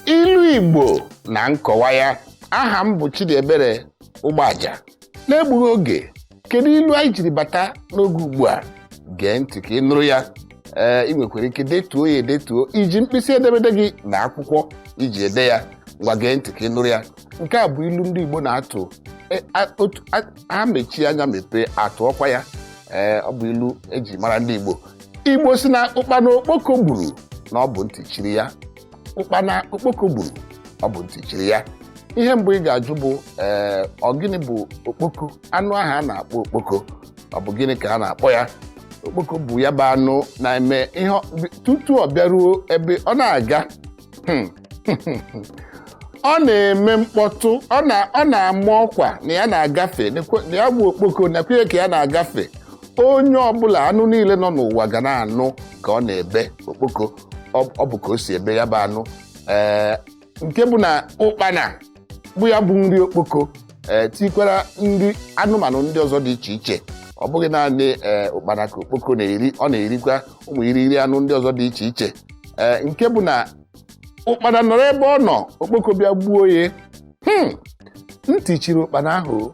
ilu igbo na nkọwa ya aha m bụ Chidiebere Ụgbọaja n'egbughị oge kedu ilu anyị jiri bata n'oge ugbu a gee ntị ka ị nụrụ ya ee ị nwekwara ike detuo ya edetuo iji mkpịsị edemede gị na akwụkwọ iji ede ya ngwa gee ntị ka ị nụrụ ya nke a bụ ilu ndị Igbo na-atụ e, ha mechie anya mepee atụọkwa ya ee ọ bụ ilu eji mara ndị Igbo Igbo sị na ụkpana okpoko gburu na ọ bụ ntị chiri ya ụkpana okpoko gburu ọ bụ ntị chiri ya ihe mbụ ị ga-ajụ bụ ee ọ gịnị bụ okpoko anụ ahụ a na-akpọ okpoko ọ bụ gịnị ka a na-akpọ ya okpoko bụ ya bụ anụ na-eme ihe ọ- bi- tutu ọ bịaruo ebe ọ na-aga hmm, ọ na-eme mkpọtụ ọ na- ọ na-ama ọkwa na ya na-agafe nekwe- na ya bụ okpoko nakwenye ka ya na-agafe onye ọbụla anụ niile nọ n'ụwa ga na-anụ ka ọ na-ebe okpoko ọ bụ ka o si ebe ya bụ anụ ee nke bụ na ụkpana bụ ya bụ nri okpoko ee tikwara nri anụmanụ ndị ọzọ dị iche iche ọ bụghị naanị ee ụkpana ka okpoko na-eri ọ na-erikwa ụmụ irighiri anụ ndị ọzọ dị iche iche ee nke bụ na ụkpana nọrọ ebe ọ nọ okpoko bịa gbuo ya hmm ntị chiri ụkpana ahụ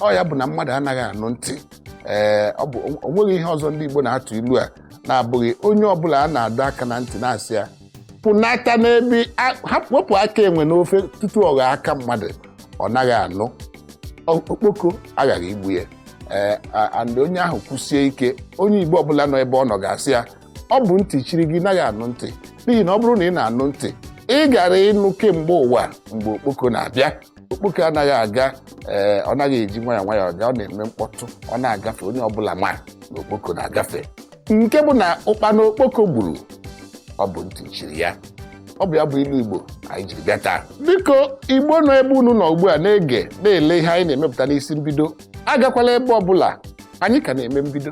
ọ ya bụ na mmadụ anaghị anụ ntị ee ọ bụ o nweghị ihe ọzọ ndị Igbo na-atụ ilu a na-abụghị onye ọbụla a na-adọ aka na ntị na-asị ya pụnata n'ebe a- hapụ wepụ aka enwe n'ofe tutu ọ ghọọ aka mmadụ ọ naghị anụ Ọ- okpoko aghaghị igbu ya ee a- and onye ahụ kwụsie ike onye igbo ọbụla nọ ebe ọ nọ ga-asị ya ọ bụ ntị chiri gị naghị anụ ntị n'ihi na ọ bụrụ na ị na-anụ ntị ị gara ịnụ kemgbe ụwa mgbe okpoko na-abịa okpoko anaghị aga ee ọ naghị eji nwayọọ nwayọọ aga ọ na-eme mkpọtụ ọ na-agafe onye ọbụla ma na okpoko na-agafe nke bụ na ụkpana okpoko gburu ọ bụ ntị chiri ya ọ bụ ya bụ ilu igbo anyị jiri bịa taa biko igbo nọ ebe unu nọ ugbu a na-ege na-ele ihe anyị na-emepụta n'isi mbido agakwala ebe ọbụla anyị ka na-eme mbido